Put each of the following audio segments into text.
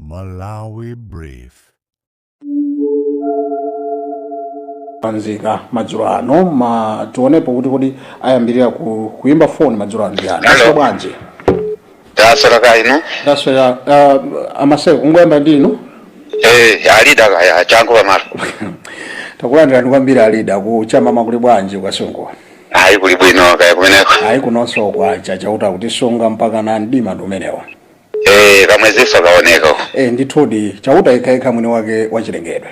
Malawi Brief. Anzika madzulo ano ma tionepo kuti kodi ayambirira ku, kuyimba foni madzulo ano ndi ndani Hello. mwaswera bwanji ndaswera kaya inu ndaswera uh, amaseko kungoyamba ndi inu eh alida kaya changu pamalo takulandirani kwambiri alida kuchama nkuli bwanji kwa sungu ayi kuli bwino kaya kumeneko ayi kunonso kwacha chauta kutisunga mpaka na mdima ndi umenewa Eh, kamwezinso kaoneka uko. e, ndithudi chauta yekhayekha mwini wake wachilengedwe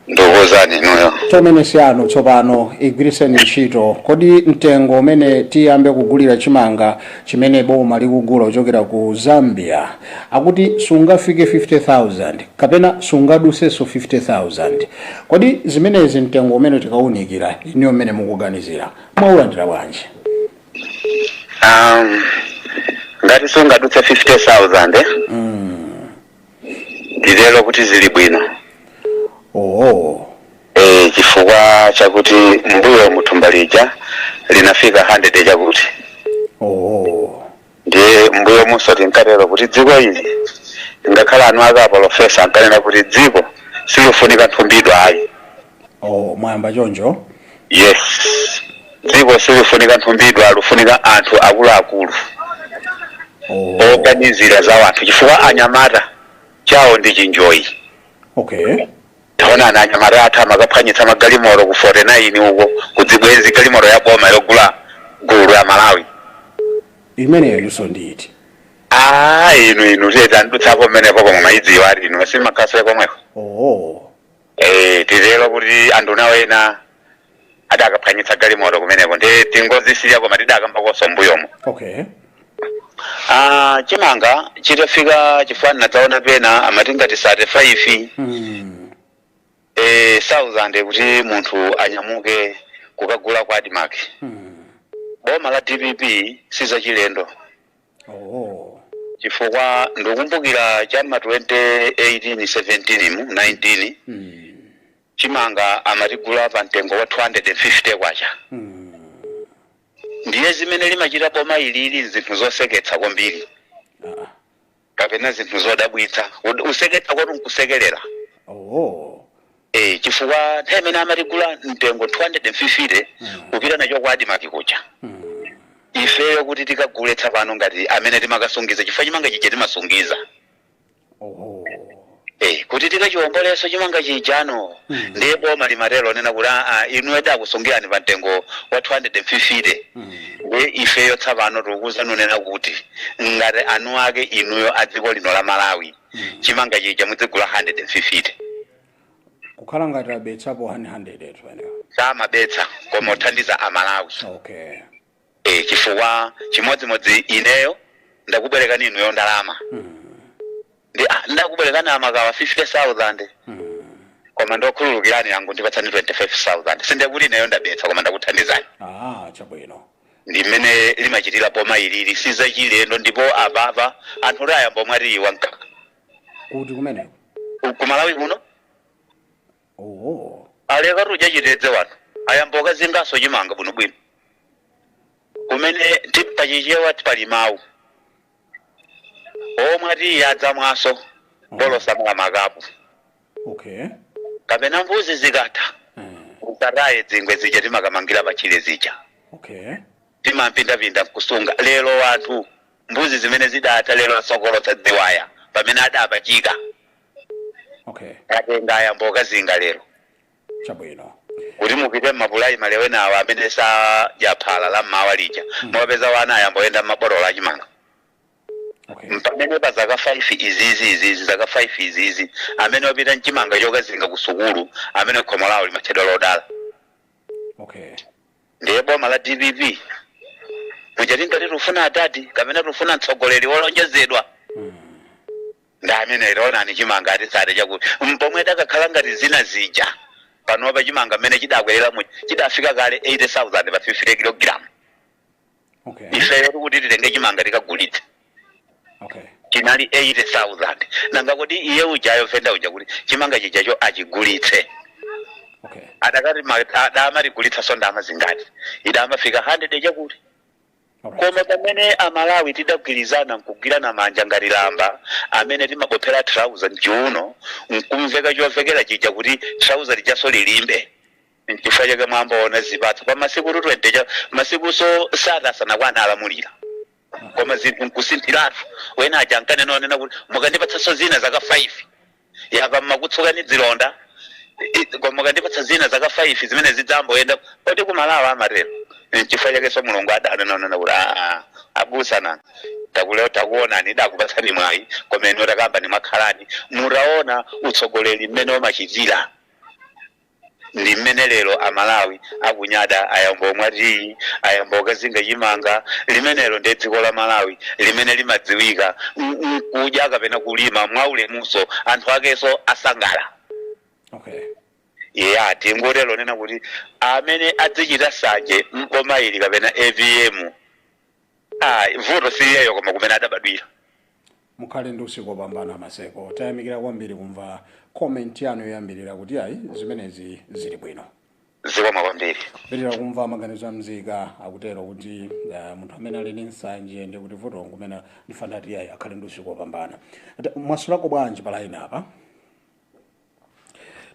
ndikuwuzani inuyo chomene siyanu tsopano igwiritseni ntchito kodi mtengo umene tiyambe kugulira chimanga chimene boma likugula kuchokera ku zambia akuti sungafike 50000 kapena sungadutsenso 50000 kodi zimenezi mtengo umene tikaunikira inuyo mmene mukuganizira mwaulandira bwanji um, ngati sungadutse 50000 eh? nditero kuti zili bwino oh e, chifukwa chakuti m'mbuyomu thumba lija linafika 100 chakuti oh Ndiye m'mbuyomunso tinkatero kuti dziko ili, ngakhale eni ake apolofesa ankanena kuti dziko silifunika nthumbidwa ayi. Oh, mwayamba choncho? Yes, dziko silifunika nthumbidwa, lifunika anthu akuluakulu Oh, oganizira za wanthu, chifukwa anyamata chawo ndi chinjoyi. okay. taonani anyamata athu amakaphwanyitsa magalimoto ku 49 uko kuzibwenzi galimoto ya boma yogula mtundu ya malawi imeneyo iyonso ndi iti aa inu inu tiyeni tidutsepo mmenepo koma mayidziwa ati inu simukhalanso komweko oo Eh, titero kuti anthu nawo ena adakaphwanyitsa galimoto kumeneko ndiye tingozisiya koma tidakambakonso mbuyomo okay Ah, chimanga chitafika chifukwa ndinadzaona pena amati ngati 35 mm. eh, 1000 kuti munthu anyamuke kukagula kwa admarc Mm. boma la dpp sizachilendo Oh. chifukwa ndikumbukira cha ma 2018 17 mu 19 Mm. chimanga amatigula pa mtengo wa K250 ndiye zimene limachita boma ilili nzinthu zoseketsa kwambiri kapena zinthu zodabwitsa kuseketsa kwatu nkusekelera oh. eh, chifukwa nthawi imene amatigula mtengo 250 kupita nacho kwa admarc kuja ifeyo kuti tikagule tsopano ngati amene timakasungiza chifukwa chimanga chija timasungiza oho Eh, kuti tikachiwombolenso chimanga chijano Mm. ndiye boma limatero nena kuti aa inu tidakusungirani pa mtengo wa 250 Mm. ndiye ifeyo tsapano tikuuzani nunena kuti ngati anu ake inuyo a dziko lino la malawi Mm. chimanga chija mudzigula 150 kukhala ngati abetsapo 100 etu eee samabetsa koma othandiza amalawi okay E, chifukwa chimodzimodzi ineyo ndakubwerekani inuyo ndalama ndi ah, ndakubwerekani amakawa 50000 koma ndokhululukirani nangu ndipatsani 25000 sinde kuti ineyo ndabetsa koma ndakuthandizani ah chabwino ndi mmene limachitira boma ilili si zachilendo ndipo apapa anthu oti ayamba omwa tiyi wa mkaka kuti kumeneko kumalawi kuno Ooo. aleka kudya chitedze wanthu ayamba okazingaso chimanga bwinobwino kumene ti- pachichewa pali mawu omwa tiyi adzamwaso bola samala makapu Okay. kapena mbuzi zikatha Mm. usataye dzingwe zija timakamangira patchire zija Okay. timampindapinda nkusunga lero wanthu mbuzi zimene zidatha lero asokolotsa dziwaya pamene adapachika okay atenga ayamba okazinga lero chabwino kuti mupite mmapulaimale wena awo amene sadya phala la mmawa lija mwapeza wana ayamba oyenda mmabotolo a chimanga okay mpamene pa zaka 5 izizi izizi zaka 5 izizi amene wapita mchimanga chokazinga ku sukulu amene ndiye khomo lawo limatchedwa lodala okay ndiye boma la dpp muja tingati tufuna atati kapena tufuna mtsogoleri wolonjezedwa mm. Ndi ameneyo, taonani chimanga ati 30 chakuti mpomwe idakakhala ngati zina zija. Panopa chimanga mmene chidakwerera muja chidafika kale 80,000 pa 50 kilogram. Okay. Ifeyo kuti titenge chimanga tikagulitse Okay. chinali 80,000. Nanga kodi iye ujayo venda uja kuti chimanga chijacho achigulitse? Okay. adakati ma- adamatigulitsaso ndalama zingati idamafika 100 chakuti koma pamene amalawi tidagwirizana nkugwirana manja ngati lamba amene timabophera thalauza mchiuno nkumveka chovekera chija kuti thalauza lijaso lilimbe nchifukwa chake mwamboona zipatso pa masiku 30, 30 ya masikuso 30 asanakwana alamulira koma zinthu nkusinthiratu wena aja ankanena zonena kuti mukandipatsaso zina zaka 5 yapa mmakutsukani dzilonda I- koma mukandipatsa zina zaka 5 zimene zidzamboyenda poti kumalawi amatero nchifukwa chakenso mulungu adanena nunena kuti aa abusa nanu takuleu takuonani tidakupatsani mwayi koma inu takambani mwakhalani mutaona utsogoleri mmene umachitira ndi mmene lero a Malawi akunyada ayambo omwa tiyi, ayambo okazinga chimanga, limenelo ndi dziko la Malawi limene limadziwika nkudya kapena kulima mwa ulemunso anthu akenso osangalala asangala. Okay. Eya tingotero nena kuti amene adzichita sanje m'boma ili kapena AVM ayi vuto si iyeyo koma kumene adabadwira mukhale ndi usiku opambana maseko tayamikira kwambiri kumva comment yanu yoyambirira kuti ayi zimenezi zili bwino zikomo kwambiri mpitira kumva maganizo a mzika akutero kuti uh, munthu amene ali ndi nsanje ndi kuti vuto nkumene ndifuna kuti ayi akhale ndi usiku opambana Ati, mwaswerako bwanji pa line apa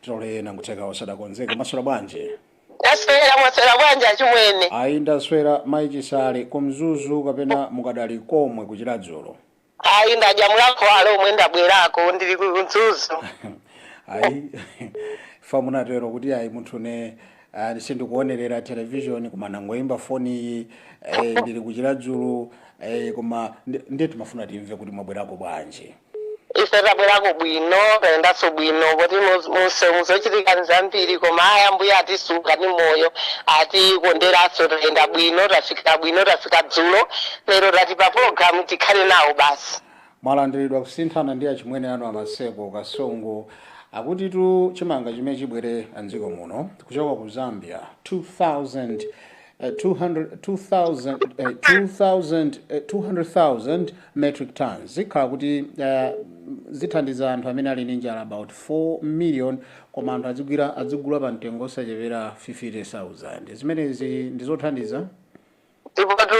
tilole nangutheka osadakonzeka mwaswera bwanji ndaswera mwaswera bwanji achimwene ayi ndaswera mayi chisale kumzuzu kapena mukadali komwe ku Chiradzulu ayi ndadya mlakho dzulo lomwe ndabwerako ndili ku mzuzu ayi paja munatero kuti ayi munthune ah, sindikuonerera television koma nangoyimba foni iyi eh, ndili ku Chiradzulu eh, koma ndi- ndiye timafuna timve kuti mwabwerako bwanji ife tabwerako bwino tayendanso bwino poti mumseu zochitika ndi zambiri koma ayi ambuye atisunga ni moyo atikonderanso tayenda bwino tafika bwino tafika dzulo lero tati pa pologalamu tikhale nawo basi mwalandiridwa kusinthana ndi achimwene anu a Maseko Kasongo akutitu chimanga chimene chibwere m'dziko muno kuchoka ku zambia 2000 200,000 metric tons zikhala kuti uh, zithandiza anthu amene ali ndi njala about 4 million koma anthu adzigwira adzigula pa mtengo osachepera 50,000 zimenezi ndizothandiza ndipotu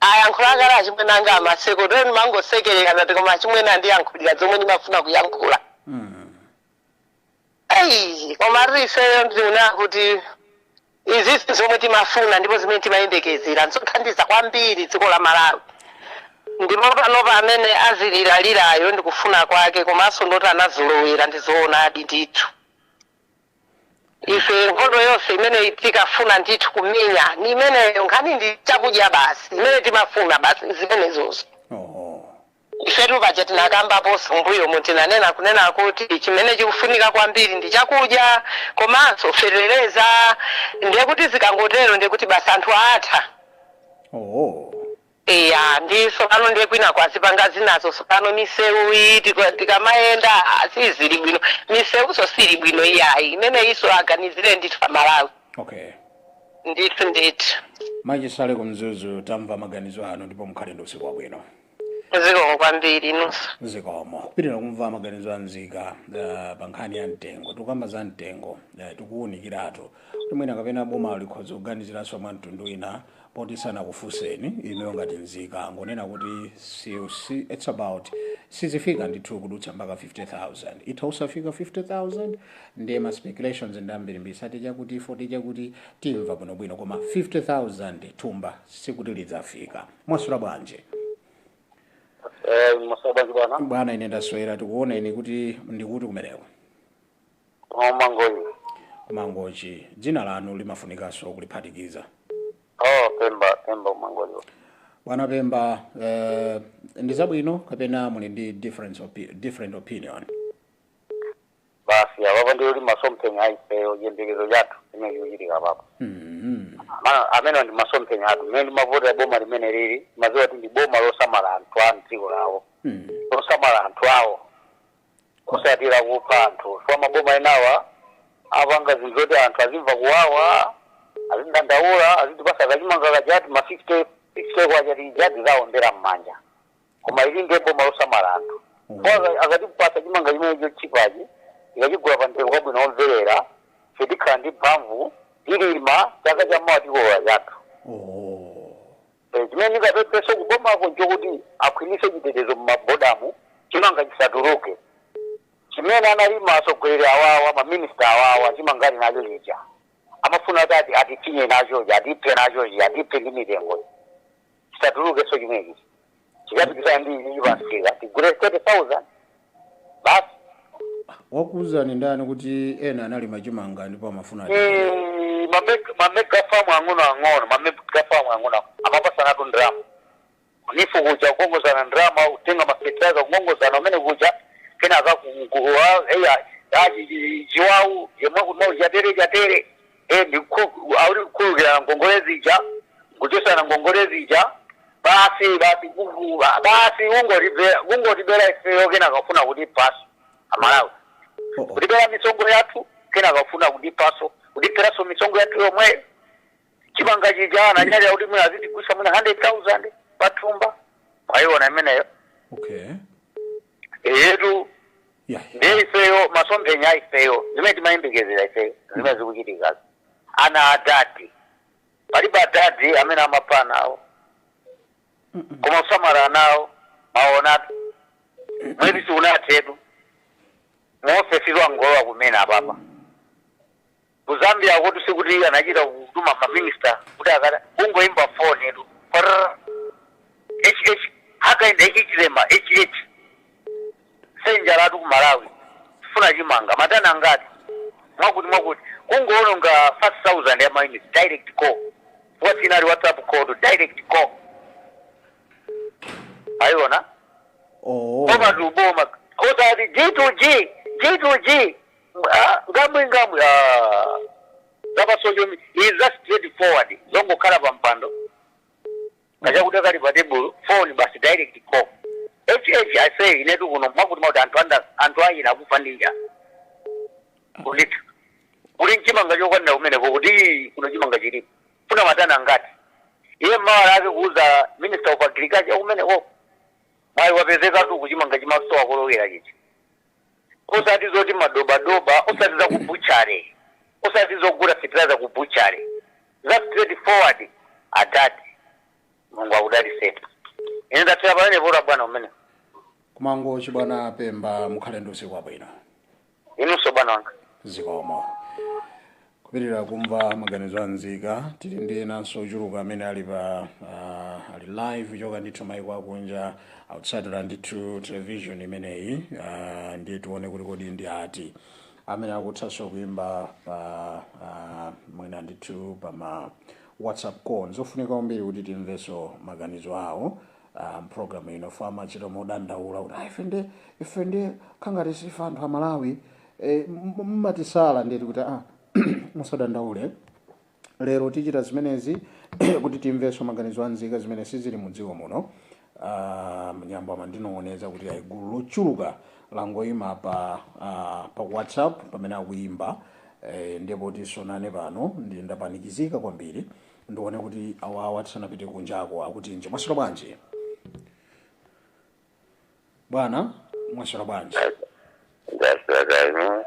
ayankhula kale achimwene anga a Maseko moti ndimangosekerera ndati koma achimwene andiyankhulira zomwe ndimafuna kuyankhula Ei, komadi ifeyo ndinena kuti izizi zomwe timafuna ndipo zimene timayembekezera nzothandiza kwambiri dziko la malawi ndipo panopa amene aziliralirayo ndikufuna kwake komanso n'zoti anazolowera ndizoonadi ndithu ife nkhondo yonse imene tinkafuna ndithu kumenya ni imeneyo nkhani ndi chakudya basi imene timafuna basi zimenezozo Ifetu paja tinakambaponso m'mbuyomu, tinanena kunena kuti chimene chikufunika kwambiri ndi chakudya komanso fetereza ndiye kuti zikangotero ndiye kuti basi anthu atha. Oh. Eya ndiye tsopano ndiye kwinako azipanga zinazo tsopano miseuyi tika- tikamayenda ah, sizili bwino miseunso siili bwino iyayi imeneyinso aganizire ndithu pa Malawi Okay. ndithu ndithu Mayi Chisale ku Mzuzu tamva maganizo anu ndipo mukhale ndi usiku wabwino. zikomo kwambiri inunso zikomo kupitiriza kumva maganizo a nzika uh, pa nkhani ya mtengo tikukamba za mtengo uh, tikuwunikiratu kuti mwina kapena boma likhoza kuganiziranso mwa mtundu wina poti sanakufunseni inuyo ngati nzika ngonena kuti si, si, it's about sizifika ndithu kudutsa mpaka 50000 itha usafika 50000 ndiye ma speculations ndi ambirimbiri sate chakuti 40 chakuti timva bwinobwino koma 50000 thumba sikuti lidzafika mwasula bwanji Eh, mwaswera bwanji bwana bwana ine ndaswera tikuona ine kuti ndi kuti kumeneko koma ku mangochi mangochi dzina lanu limafunikanso kuliphatikiza oh pemba pemba ku mangochi bwana pemba eh, ndi zabwino kapena muli ndi difference opi different opinion basi apapa ndiye kuti masomphenya a ifeyo chiyembekezo chathu chimene chikuchitika apapa Mhm. Ma- amene ndi masomphenya athu mmene timavotera boma limeneli timadziwa kuti ndi boma losamala anthu a mdziko lawo Mhm. losamala anthu awo osati lakupha anthu chifukwa maboma enawa apanga zinthu zoti anthu azimva kuwawa azidandaula azitipatsa kachimanga kachati ma 50 50 kwachati ijati tizawombera m'manja koma ili ndi boma losamala anthu chifukwa akatipatsa chimanga chimene chotchipachi tikachigula pa mtengo wabwino womverera tizikhala ndi mphamvu tilima chaka cha mawa tikolola chathu Eh, chimene ndingapemphe kubomako nchokuti akhwimitse chitetezo mmabodamu chimanga chisatuluke chimene analima atsogoleri awawa maminista awawa chimanga ali nacho chija amafuna kuti ati atifinye nachochi atiphe nachochi atiphe ndi mitengo chisatulukenso chimenechi chikapikisana ndi ichi chikatsika tigule 30000 basi wakuuzani ndani kuti ena analima chimanga ndipo amafuna ati- Eh, mame- mamegafamu ang'ono ang'ono mamegafamu ang'ono amapatsanatu ndrama kunifu kuja kukongozana ndrama kutenga mafetilizer kukongozana umene kuja kenaka ku- ku- wa- eya achi- chi- chiwawu yemwe kuno chatere chatere Eh, ndikukhu- auli kukhululukirana ngongole zija kuchotsana ngongole zija basi basi kuku- basi ungotibera ungotibera ifeyo kenaka afuna kutiphanso amalawi Oh, oh. kutibera misonkho yathu kenaka afuna kutiphanso kutiberanso misonkho yathu yomweyo chimanga chija ananyadira kuti mwina azitigulitsa mwina 100000 pathumba mwayiona imeneyo okay eyetu Yeah. ndiye ifeyo masomphenya a ifeyo zimene timayembekezera ifeyo zimene zikuchitikazo ana a dadi palibe adadi amene amapha ana awo koma kusamala ana awo mwaonatu mwezi siunathetu muofesi angolowa kumene apapa Ku Zambia kotu sikuti anachita kutuma ma minister kuti akat- kungoimba phone tu. Prrr. HH Hakainde Hichilema HH. I say njalatu ku Malawi. Funa chimanga matani angati mwakuti mwakuti kungoononga 5000 ya units direct call. Osatinso WhatsApp call tu direct call. Mwaiona? Oh. Koma tuboma. Kotereku ati G2G, G2G. Nganwinganwi ah. Zapa social media is just straight forward. Zongokhala pa mpando. Kaya kutenga pa table phone basi direct call. HH I say inetu kuno mwakuti mwakuti anthu anga anthu anga akufa ndi njala. Kulita. Kuli chimanga chokwanira kumeneko kuti kuno chimanga chilipo. Funa matani angati. Iye mmawa lake kuuza minister of agriculture kumeneko. Mwayi wapezekatu uku chimanga chimasowa kolowera chichi. osati zoti madobadoba osati za ku butchery osati zogula fertilizer ku butchery za straight forward adadi mulungu akudalitseni ine ndathera pamenepo ta bwana kumeneko ku Mangochi bwana pemba mukhale ndi usiku wabwino inunso bwana wanga zikomo Kupitirira kumva maganizo a nzika, tili ndi enanso ochuluka amene ali pa uh, ali live kuchoka ndithu maiko akunja akutsatira ndithu television imeneyi uh, ndiye tione kuti kodi ndi ati amene akuthanso kuimba pa uh, mwina ndithu pa ma whatsapp call zofunika kwambiri kuti timvenso maganizo awo ah, program ino chifukwa amachita kudandaula kuti "Ah, ife nde ife ndiye zikukhala ngati sife anthu amalawi eh, m- m- mumatisala nde ati kuti ah, musadandaule lero tichita zimenezi kuti timvenso maganizo a nzika zimene sizili mu dziko muno Ah, mnyambo amandinong'oneza kuti ayi gulu lochuluka langoyima pa ah, pa whatsapp pamene akuyimba eh, ndipo tizionana pano ndiye ndapanikizika kwambiri ndione kuti awawa tisanapite kunjako akutinji mwaswera bwanji bwana mwaswera bwanji ndaswera kaya inu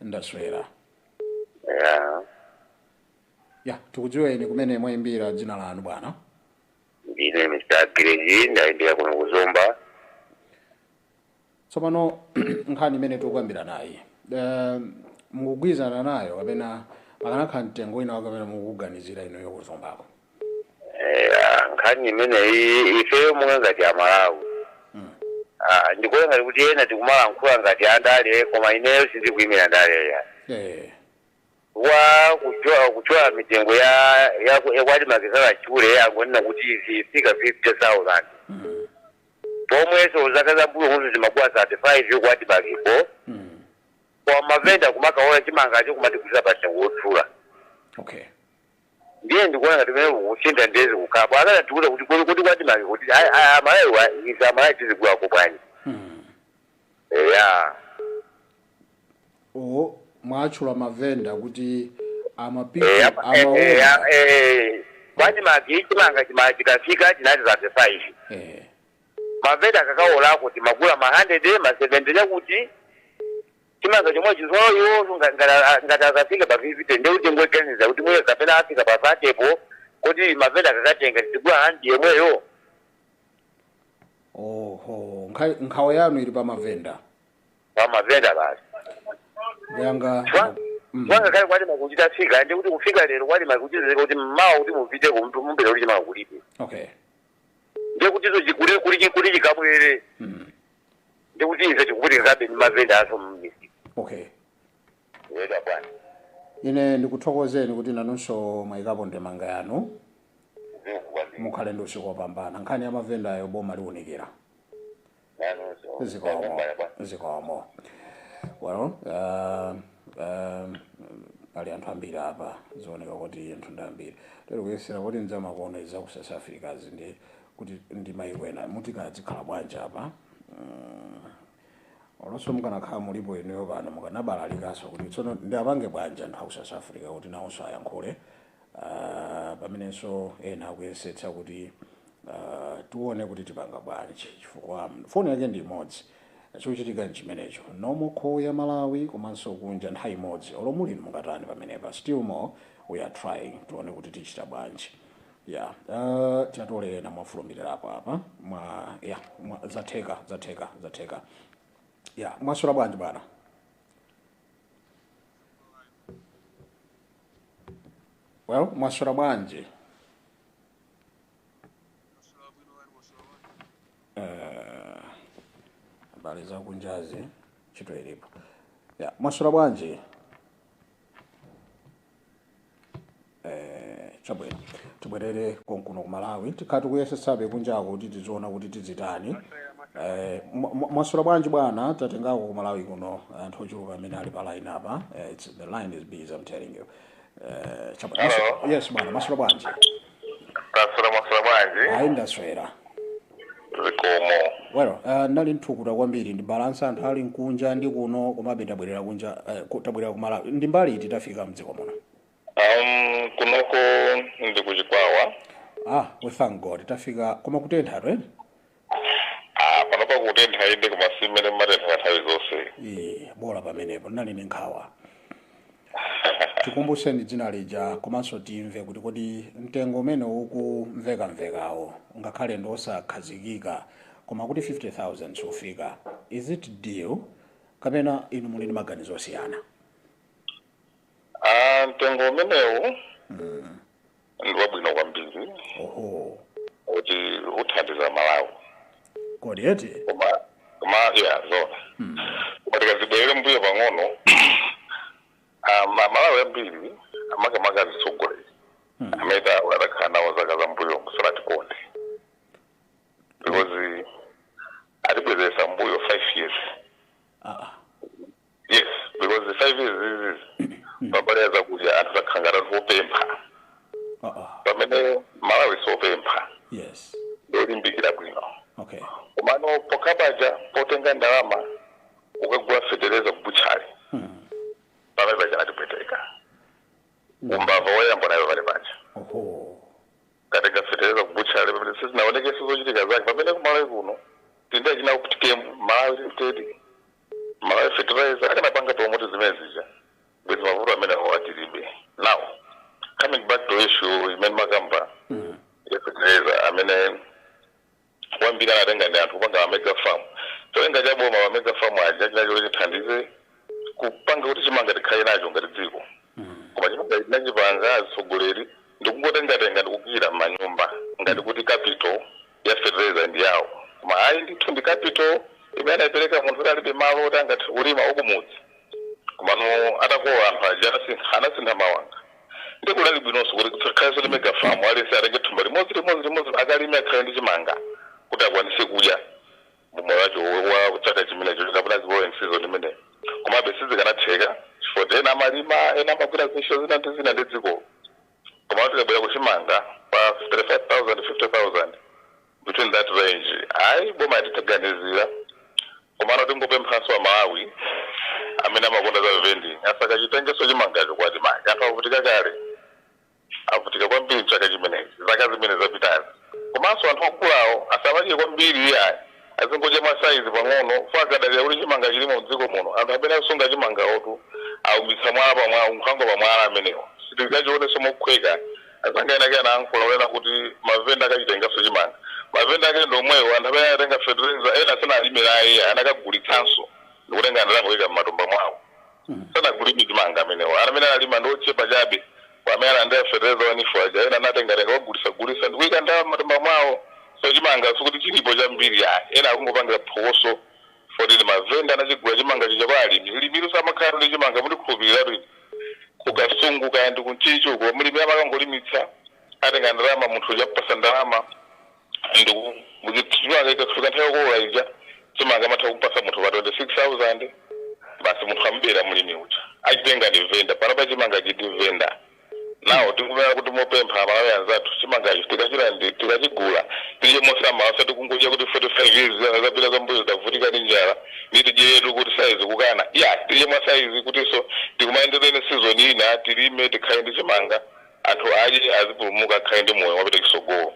ndaswera ya ya tikudziweni komwe mwayimbira dzina lanu bwana ndine mr greji ndayimbira kuno kuzomba Tsopano nkhani imene tikukambiranayi, um, mukugwirizana nayo kapena pakanakhala mtengo wina wake amene mukuganizira inuyo kuzombako? Eya, nkhani imeneyi ifeyo monga ngati Amalawi Mm. ah, ndikuona ngati kuti ena tikumalankhula ngati andale koma ineyo sindikuimira ndale ayi, kwa kutchula kutchula mitengo ya ya ya kwati makizala chule angonena kuti izifika 50000 mm, pomwenso zaka za mbuyo kuno zimakhala 35 kwa ADMARC-po kwa mavenda kumakaona chimangacho kumatigulitsa patengo wodula okay ndiye ndikuona ngati mene kusinda ndezi kukhala akanatiuza kuti kodi kodi kwa ADMARC kuti ayi ayi amalawi ife amalawi tizigulako bwanji eya o mwatchula mavenda kuti amapiku amaoda kwa ADMARC chimanga chima chikafika chinali cha 35 eh, mavenda akakaodako timagula ma 100 ma 70 chakuti chimanga chomwe chija ngati akafika pa 50 nde kuti ndikuganiza kuti mweye kapena afika pa 30 po kodi mavenda akakatenga tigula handiredi yomweyo oho nkha- nkhawa yanu ili pa mavenda pamavenda basi yanga Chwa- Mm. chwanga kale kwa ADMARC kuchita fika ndi kuti kufika lero kwa ADMARC kuchitika kuti mmawa kuti mupite kumtu mumvere kuti chimanga kulibe okay ndiye kuti izo chikule kuli chikuli chikabwere Mm. ndi kuti ife tikuvutikabe ndi mavenda aso mmisi okay eya bwana ine ndikuthokozeni kuti nanunso mwayikapo ndemanga yanu zikukwambira mukhale ndi usiku wopambana nkhani ya mavendayo boma liwunikira nanunso zikomo ndakambala bwana zikomo well uh, uh, pali anthu ambiri apa zooneka kuti anthu ndi ambiri tili kuyesera kuti ndi za makolo za ku south africa izi ndi kuti ndi maiko ena muti kodi zikhala bwanji apa Mm. olonso mukanakhala mulipo inuyo pano mukanabalalikanso kuti tsono ndiwapange bwanji anthu aku south africa kuti nawonso ayankhule pamenenso ena akuyesetsa kuti tione kuti tipanga bwanji chifukwa foni yake ndi imodzi chochitika nchimenecho nomo call ya malawi komanso kunja nthawi imodzi olo muli mungatani pamenepa still more we are trying tione kuti tichita bwanji ya uh, tiatole ena mwafulumirirapo apa mwa ya mwa, zatheka zatheka zatheka ya mwaswera bwanji bwana well mwaswera bwanji Eh, habari za kunjazi ndi choncho ilipo ya mwaswera bwanji Eh, chabwino tibwerere konkuno ku malawi tikhala tikuyesetsabe kunjako kuti tiziona kuti tizitani Eh, mwa- mwa- mwaswera bwanji bwana tatengako ku malawi kuno anthu ochuluka amene ali pa line apa Eh, it's The line is busy, I'm telling you. Uh, chapa- Hello. Yes, bwana, mwaswera bwanji. taswera mwaswera bwanji Ayi ndaswera. zikomo Well, uh, ndali nthukuta kwambiri ndibalanse anthu ali mkunja ndi kuno komabe tabwerera kunja uh, ku- tabwerera ku malawi ndi mbali iti tafika mdziko muno. um, kunoko ndi kuchikwawa Ah, we thank God tafika koma kutentha to eh? Ah, panopa kutentha inde koma si mmene kumatenthera nthawi zonse Eh, bola pamenepo ndinali ndi nkhawa tikumbuseni dzina lija komanso timve kuti kodi mtengo umene ukumvekamvekawo ngakhale ndi osakhazikika koma kuti 50000 osafika is it deal kapena inu muli ndi maganizo osiyana Ah, mtengo umenewu mm. ndi wabwino kwambiri oho kuti uthandiza amalawi kodi eti koma koma ya zona mm. koma tikazibwerere mbuyo pang'ono ah, ma- malawi ambiri amakamaka azitsogoleri Mm. amene adakhala nawo zaka za mbuyo musanatikonde because atibwezeresa mbuyo five years ah, ah. Yes, because the five years izizi pambali ya zakudya anthu takhala ngati anthu opempha Uh oh. pamene malawi sopempha Yes. ndolimbikira bwino Okay. komano pokhapaja potenga ndalama ukagula fetereza kubuchali pamene paja natipweteka umbava woyamba unali pamene paja Oho. katenga fetereza kubuchali pamene sizinaonekese zochitika zake pamene kumalawi kuno tili ndi achina Optichem malawi limited Malawi fertilizer akanapanga promote zimene zija bwezi mavuto amene awa tilibe now coming back to issue imene mmakamba ya fertilizer amene wambiri anatenga ndi anthu kupanga mega farm cholinga cha boma wa mega farm aja chinali choti chithandize kupanga kuti chimanga tikhale nacho ngati dziko koma chimene anachipanga atsogoleri ndikungotengatenga ndikuika m'manyumba ngati kuti capital ya fertilizer ndi yawo koma ayi ndithu ndi capital imene anaipereka munthu kuti alibe malo oti angathe kulima wakumudzi komano atalowa anthu aja anasintha anasintha mawanga ndiye kunali bwinonso kuti kusakhale zoti mega farm aliyense atenge thumba limodzi limodzi limodzi akalime akhale ndi chimanga kuti akwanise kudya mumoyo wacho wa chaka chimenecho kapena growing season imeneyo komabe sizikanatheka chifukwa ena amalima ena amagwira zintchito zina ndi zina ndi dziko Komano tikabwera ku chimanga pa 35000 50000 between that range ayi boma yatitganizira komano tingopemphanso a Malawi amene amakonda za vending asakachitengenso chimangacho kwa chimake anthu avutika kale avutika kwambiri mchaka chimenechi zaka zimene zapitazi komanso anthu akuluwo asamadye kwambiri iyayi. Azingodya mwa size pang'ono, osangodalira kuti chimanga chilimo mdziko muno, anthu amene akusunga chimangawotu aumitsa mwala pa mwala, nkhwangwa pa mwala amenewo. Sitikachionenso mophweka. Azanga ena ake anayankhula kunena kuti ma vendor akachitengaso chimanga. Ma vendor ake ndi omwewo, anthu amene anatenga fertilizer, ena sanalime naye iyayi, anakagulitsanso ndikutenga ndalama kuika mmatumba mwawo. Hmm. sanakulime chimanga amenewo amene analima ndi ochepa chabe kwa amene analandira fetereza wa NEEF aja ena anatengatenga kukagulitsagulitsa ndi kuika ndalama m'matumba mwawo so chimanga sikuti chilipo chambiri ayi ena akungopangira phokoso foti ndi mavenda anachigula chimanga chija kwa alimi mlimitu samakhalatu ndi chimanga mundikhulupiriretu ine ku kasungu kaya ndi ku Ntchisi uko mlimi amakangolimitsa akatenga ndalama munthu uja ampasa ndalama ndikumbukira chimanga ikafika nthawi yokolola ija chimanga amatha kumpasa munthu pa 26000 basi munthu amubera mlimi uja achitenga ndi venda panapa chimanga chiti venda ndiye tikunena kuti mopempha amalawi anzathu chimanga ichi tikachira ndi tikachigula tidye mosamala osati kungocha kuti 45 years zana zapita zambuyo tavutika ndi njala ndiye tidyetu kuti saizi kukana ya tidye mwa saizi kutinso tikumanenso ndi season ina tilime tikhale ndi chimanga anthu adye azipulumuka akhale ndi moyo wapita chitsogolo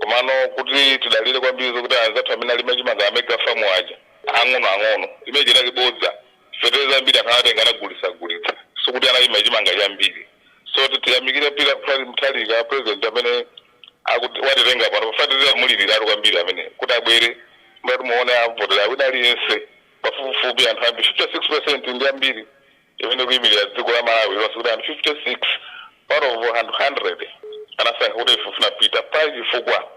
Komano kuti tidalire kwambiri zokuti anzathu amene alima chimanga a Mega Farm aja ang'ono ang'ono, imeneyo inali bodza. Fetereza wambiri anthu anatenga anagulitsa gulitsa. Sikuti analima chimanga chambiri. So tiyamikire Peter Mutharika President amene watitenga pano. Ife tinamuliliratu kwambiri amene kuti abwere. Mukati muone amuvotera wina aliyense pafupifupi anthu ambiri 56% ndi ambiri. imene ikuimilira dziko la Malawi lonse kuti anthu 56 out of anthu 100 anasankha kuti ife tifuna Peter pali chifukwa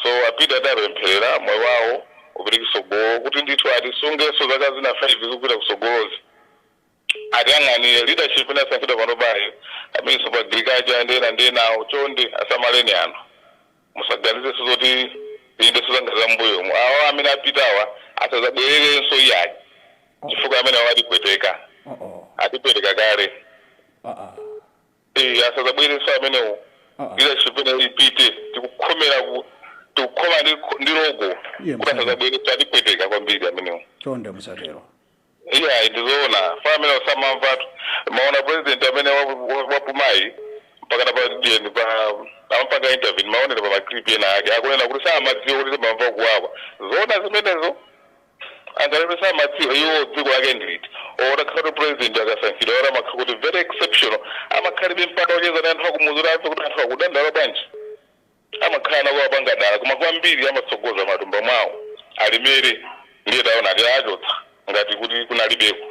so a Peter tiwapempherera moyo wawo upite kutsogolo kuti ndithu atisungenso zaka zina 5 zikupita kutsogolozi atiyang'anire leadership inasankhidwa panopayi a Minister of agriculture ndi ena ndi enawo chonde asamaleni anthu. musaganizenso zoti tionenso zinthu za m'mbuyomu awa amene apitawa asazabwererenso iyayi chifukwa amene awo atipweteka atipweteka kale Eh, asazabwerenso amenewo leadership imeneyo ipite tikukhomera ku- tikukhoma ndi loko kuti asazabwerenso atipweteka kwambiri amenewo chonde musatero Iyayi ndizoona mafana amenewo samamvatu maona president amene wapumayi mpakana pa the end pa amapanga intervene maonera pa maclip ena ake akunena kuti samadziwa kuti timamva kuwawa zoona zimenezo angakhale kuti samadziwa iwo dziko lake ndiliti oti akhale kuti president akasankhidwa or amakhala kuti very exceptional amakhalibe mpata wocheza ndi anthu akumuzi kuti amve kuti anthu akudandaula bwanji Amakhala akupanga dala koma kwambiri amatsogoza matumba mwawo alemere ndiye taona tawachotsa ngati kuti kunalibeko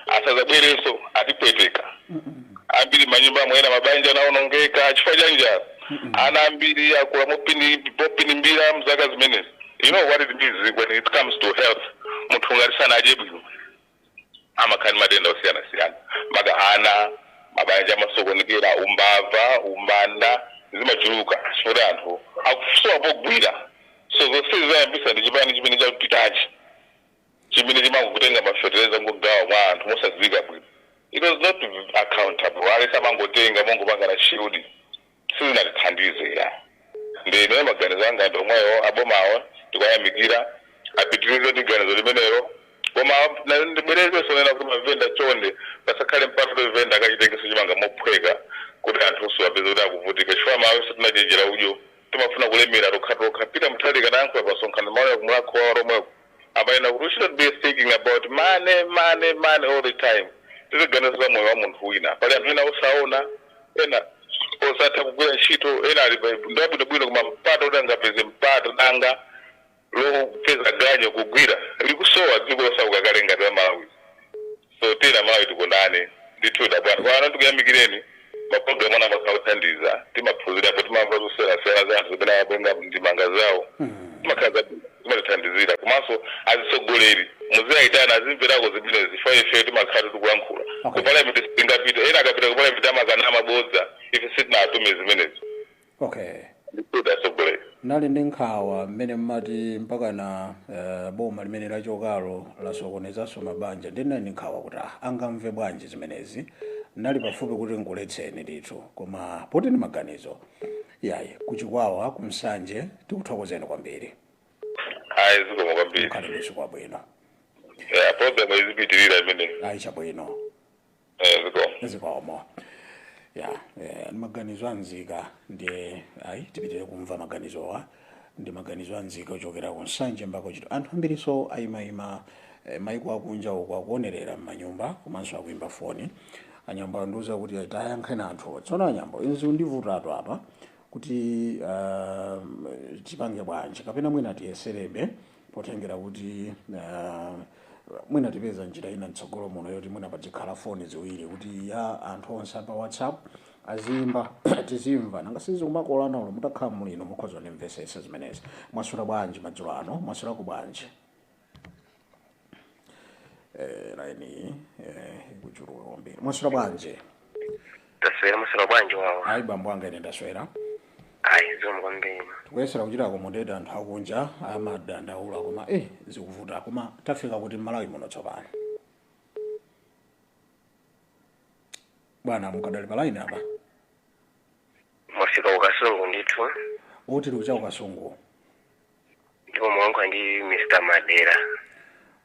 asazabwerenso atipweteka ambiri m'manyumbamo ena mabanja anaonongeka chifukwa cha njala ana ambiri akula mopinimbira mzaka zimenezi you know what it means when it comes to health munthu ngati sanadye bwino. amakhala ndi matenda osiyanasiyana maka ana, mabanja amasokonekera, umbava, umbanda zimachuluka chifukwa choti anthu akusowa pogwira so zonsezi zayambisa ndi chipani chimene chapitachi chimene chimangotenga ma fetereza kungogawa mwa anthu mosadziwika bwino it was not accountable aliyense amangotenga mongopangana shield. sizinatithandize ya ndiye ineyo maganizo anga ndi omwewo abomawo ndikuwayamikira apitirize ndi ganizo limenelo koma na- ndibwerezenso nena kuti mavenda chonde pasakhale mpata kuti venda akachitengeso chimanga mophweka kuti anthu onse apeze kuti akuvutika chifukwa amalawife tinachenjera udyo timafuna kulemera tokhatokha Peter Mutharika anayankhula pa msonkhano mawu ya ku Mulhako wa Alhomweko Amanena kuti we shouldn't be thinking about money, money, money all the time. Tiziganiza za moyo wa munthu wina. Pali anthu ena osaona, ena osatha kugwira ntchito, ena ali pa- ndi abwinobwino koma mpata kuti angapeze mpata danga lopeza ganyu kugwira likusowa dziko losauka kale ngati la Malawi. So tiyeni amalawi tikondane ndithudi abwana pano tikuyamikireni ma program anu amakhala othandiza timaphunzirapo timamva zosiyanasiyana za anthu zimene amapereka ndemanga zawo zimakhala zimatithandizira komanso azitsogoleri muziwaitana azimverako zimenezi chifukwa ifeyo timakhalatu tikulankhula ku parliament sitingapite ena akapita ku parliament amakanama mabodza ife sitinatume zimenezi. okay ndithudi atsogoleri nali ndi nkhawa mmene mmati mpakana eh, boma limene lachokalo lasokonezanso mabanja ndinali ndi nkhawa kuti ah, angamve bwanji zimenezi nali pafupi kuti nkuletseni ndithu koma poti ndi maganizo yayi ku Chikwawa ku Nsanje tikuthokozeni kwambiri ayi zikomo kwambiri mukhale masiku abwino Eh, program izipitirira imeneyi ayi chabwino Eh, zikomo. zikomo ya eh, ndi maganizo a nzika ndiye ayi tipitire kumva maganizowa ndi maganizo a nzika ochokera ku nsanje mpaka ku Chitipa anthu ambirinso ayimayima eh, maiko akunja uko akuonerera m'manyumba komanso akuimba foni a Nyambo andiuza kuti tayankheni anthu tsono a Nyambo izi zindivutatu apa kuti uh, tipange bwanji kapena mwina tiyeserebe potengera kuti mwina tipeza njira ina mtsogolo muno yoti mwina padzikhala foni ziwiri kuti ya anthu onse a pa whatsapp aziimba tizimva nanga si zikumakolana olo mutakhala muli inu mukhoza kundimvesesa zimenezi mwaswera bwanji madzulo ano mwaswerako bwanji eh, laini eh, ikuchuluka kwambiri mwaswera bwanji taswera maswera bwanji wawa ayi bambo anga ine ndaswera ayi zikomo kwambiri tikuyesera kuchita accommodate anthu akunja amadandaula koma eh zikuvuta koma tafika kuti mmalawi muno tsopano bwana mukadali pa line apa mwafika ku Kasungu ndithu oti tikucha ku Kasungu ndipo mwayankhula ndi mr madera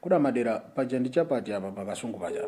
kuda madera paja ndi chapati apa pakasungu paja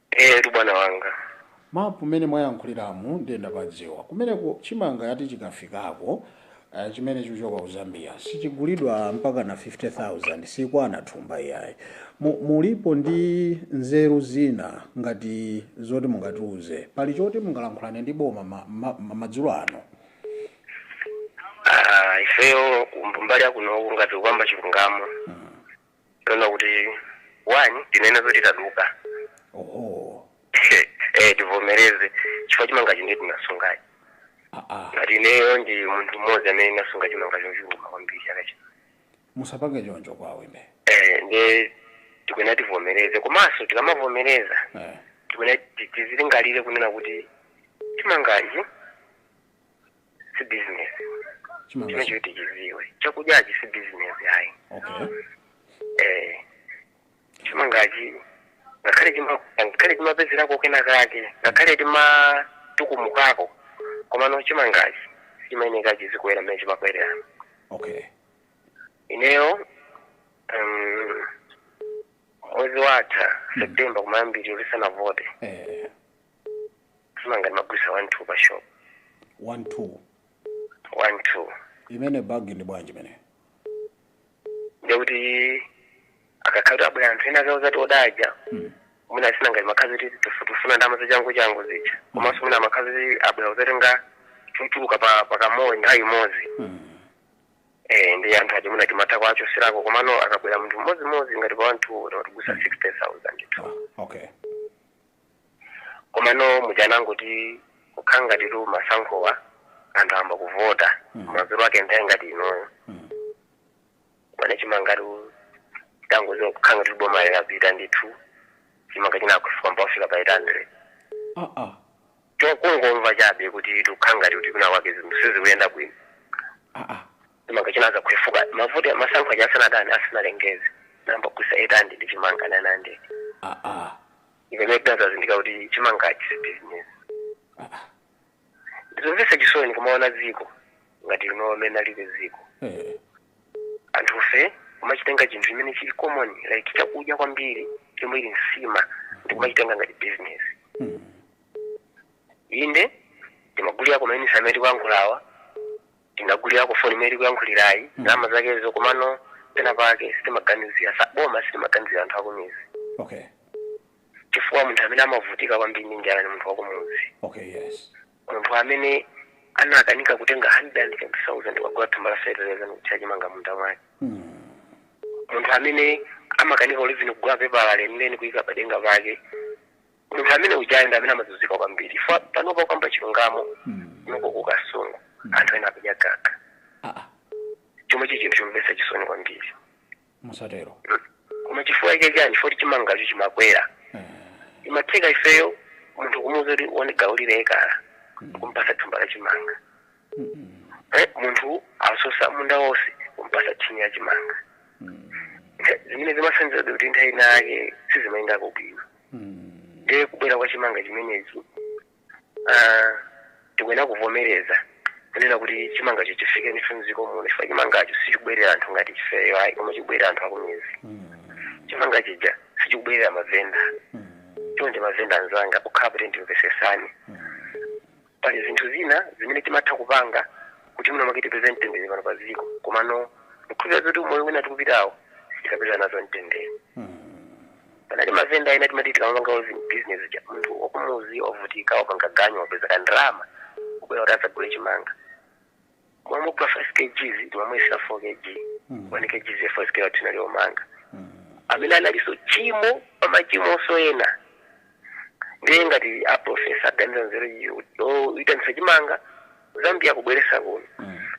Eyetu bwana wanga. Map mene mwayankhuliramu ndiye ndapadziwa. Kumeneko chimanga ati chikafikako eh, chimene chikuchoka ku Zambia sichigulidwa mpaka na 50,000 sikwana thumba iyayi. Mu, mulipo ndi nzeru zina ngati zoti mungatiuze. Pali choti mungalankhulane ndi boma ma, ma, ma, madzulo ano. Ah, ifeyo mbali yakuno ngati kukamba chilungamo. kapena kuti one tinene zoti taduka oho eh tivomereze chifukwa chimangachi ndiye tinasungachi aa ngati ineyo ndi munthu mmodzi amene ndinasunga chimanga chochuluka kwambiri chaka chino musapange choncho kwa awembe eh ndiye tikuyenera tivomereze komanso tikamavomereza eh. tikuyenera tizilingalire kunena kuti chimangachi si business chimanga chimene choti tiziwe chakudyachi si business ayi okay eh chimangachi ngakhale chima ngakhale timapezerako kena kake ngakhale timatukumukako komano chimangachi chimayenera chizikwera mmene chimakwerera okay ineyo um, mwezi watha septemba kumayambiriro tisanavote eh chimanga ndimagulitsa 1 2 pa shop 1 2 1 2 imene bag ndi bwanji imene ndiye kuti akakhala kuti abwera anthu ena akauza kuti odaja Mm. mwina asina ngati imakhala kuti tifu- tifuna ndama zachangu changu zija komanso mwina imakhala kuti abwera kuzatenga chochuluka pa pakamodzi nthawi imodzi Mm. eh ndi anthu aja mwina timatha kuwachoserako komano akabwera munthu mmodzimodzi ngati pa 1 2 timagulitsa 60000 ndithu Ah, okay komano mutangoti kukhala ngati tu masankhowa anthu ayamba kuvota Mm. madzulo ake nthawi ngati inoyo Mm. kwana chimangachi tangoziwa kukhala ngati boma yapita ndithu chimanga chinafika mpaka kufika pa 800 Ah, ah. chokungomva chabe kuti tikukhala ngati kuti kwinakwake zinthu sizikuyenda bwino Ah, ah. chimanga china chinadzakhwefuka mavuto masankho aja asanadani asanalengeze nangokutsa 800 ndi chimanga 900 aa imene tinadzazindikira kuti chimangachi si bizinesi aa ndizomvetsa chisoni kumaona dziko ngati lino amene alibe dziko eh, anthufe kumachitenga chinthu chimene chili common like chakudya kwambiri chomwe ili nsima ndikumachitenga ngati business inde timagulira koma mayunitsi amene tikuyankhulawa tinagulirako foni imene tikuyankhulirayi ndi ndalama zakezo komano pena pake sitimaganizira za boma sitimaganizira anthu akumizi okay chifukwa munthu amene amavutika kwambiri ndi njala ni munthu wakumuzi okay yes munthu amene anakanika kutenga 120,000 kukagula thumba la fertilizer ndikuthira chimanga munda mwake munthu amene amakanika olo even kugula pepala lenileni kuyika padenga pake munthu amene ujayo ndi amene amazunzika kwambiri chifukwa panopa kukamba chilungamo kunoko ku kasungu anthu ena akudya gaga aa chomwe chi chinthu chomvetsa chisoni kwambiri mukatero koma chifukwa chake chani chifukwa kuti chimangacho chimakwera Eh, imatheka ifeyo munthu kumuuza kuti iwe ukalime ekala kumpasa thumba la chimanga mm, mm, Eh, munthu asosa munda wonse kumpasa thini ya chimanga mm. Ntha- zimene zimasonyeza kuti nthawi ina yake sizimayendako bwino ndiye kubwera kwa chimanga chimenechi ah, tikuyenera kuvomereza kunena kuti chimangacho chifike ndithu mdziko muno chifukwa chimangacho sichikubwerera anthu ngati ifeyo ayi koma chikubwerera anthu akumidzi chimanga chija sichikubwerera mavenda chonde mavenda anzanga pokhala kuti ndimvetsetseni Pali zinthu zina zimene timatha kupanga kuti mwina mwake tipeze mtendere pano pa dziko, komano ndikukhulupirira zoti umoyo wina tikupitawo sitikapeza nazo mtendere. Pali mavenda ena timati tikamapanga business ija, munthu wakumuzi wavutika wapanga ganyu wapeza ka ndalama, wabwera kuti adzagule chimanga. mwamugula 5 kgs timamuyesera 4 kg 1 kgs ya 5 kg tinali omanga amene analiso chimo pamachimonso ena ndiye ngati aprofesa aganiza nzeru yoitanisa chimanga ku Zambia kubweresa kuno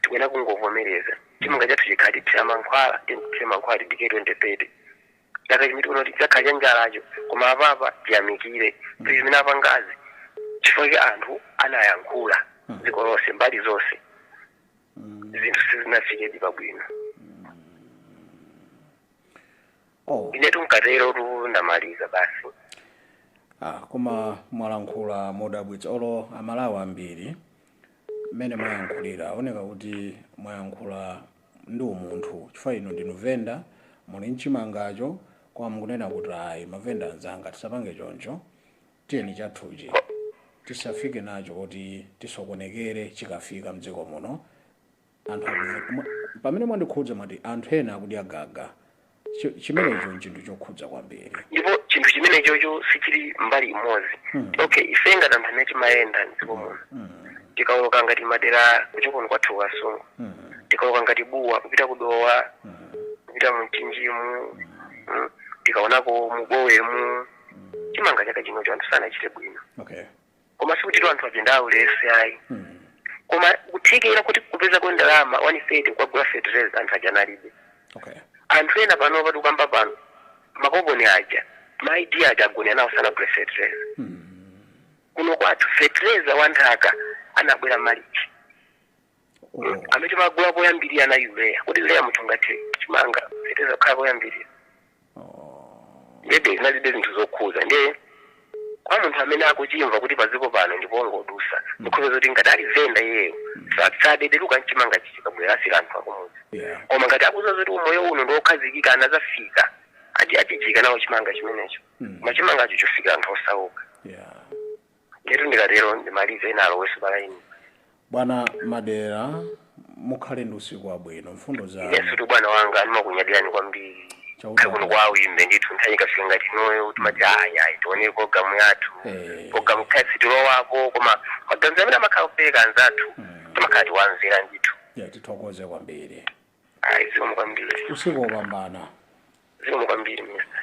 tikuyenera kungovomereza chimanga chathu chikhale tithira mankhwala tikuthira mankhwala tidikire 2030 ngati 2030 kuno chidzakhale cha njalacho koma apapa tiyamikire kuti zimene apangazi chifukwa cha anthu anayankhula dziko lonse mbali zonse zinthu sizinafikedi pabwino oh. inetu mukatero tu ndamaliza basi ah, koma mwalankhula modabwitsa olo amalawi ambiri mmene mwayankhulira aona kuti mwayankhula ndi umunthu chifukwa inu ndinu venda muli nchimangacho koma mukunena kuti ayi mavenda anzanga tisapange choncho tiyeni chathuchi tisafike nacho kuti tisokonekere chikafika mdziko muno anthu akuvutika. Pamene mwandikhudza mwati anthu ena akudya gaga Chi- chimenecho nchinthu chokhudza kwambiri ndipo chinthu chimenechocho sichili mbali imodzi Mm. okay ife ngati anthu amene timayenda mdziko muno Mm, tikaoloka ngati madera kuchokoni kwathu Kasungu mm, tikaoloka ngati buwa kupita kudowa mm, kupita mumchinjimu mm, tikaonako mubowemu chimanga chaka chinocho anthu sanachite bwino okay koma sikuti anthu aja ndi aulesi ayi koma kuthekera kuti kupezako ndalama 130 kukagula fetereza anthu aja alibe okay anthu ena pano pati kukamba pano makoponi aja maidi aja agona nawo sanagule fetereza kuno kwathu fetereza wa nthaka anabwera malichi amene timagula koyambirira na urea kodi urea munthu ungathe chimanga fetereza kukhala koyambirira ndiye zinadibe zinthu zokhuza ndiye kwa munthu amene akuchimva kuti padziko pano ndi pongodusa ndikhoza zoti ngati ali venda iyeyo sadedeluka mchimanga chichi chikabwera asira anthu akumudzi Yeah. koma ngati akuza zoti umoyo uno ndiokhazikika anazafika ati achijika nawo chimanga chimenecho koma chimangacho chofikira anthu osauka Yeah. Ndiyetu ndikatero ndimalize ena alowenso pa layini. Bwana Madera mukhale ndi usiku wabwino. Mfundo zanu. Inesutu bwana wanga ndimakunyadirani kwambiri. Chauta Kaya kuno akudalitse. kwa Wimbe ndithu nthawi ikafika ngati inoyo timati ayi ayi tionere programu yathu. Eh. Programu kaya sitilowako koma maganizo amene amakhala kupereka anzathu timakhala tiwamvera ndithu. Ya tithokoze kwambiri. Ayi zikomo kwambiri. Usiku wopambana. Zikomo kwambiri mister.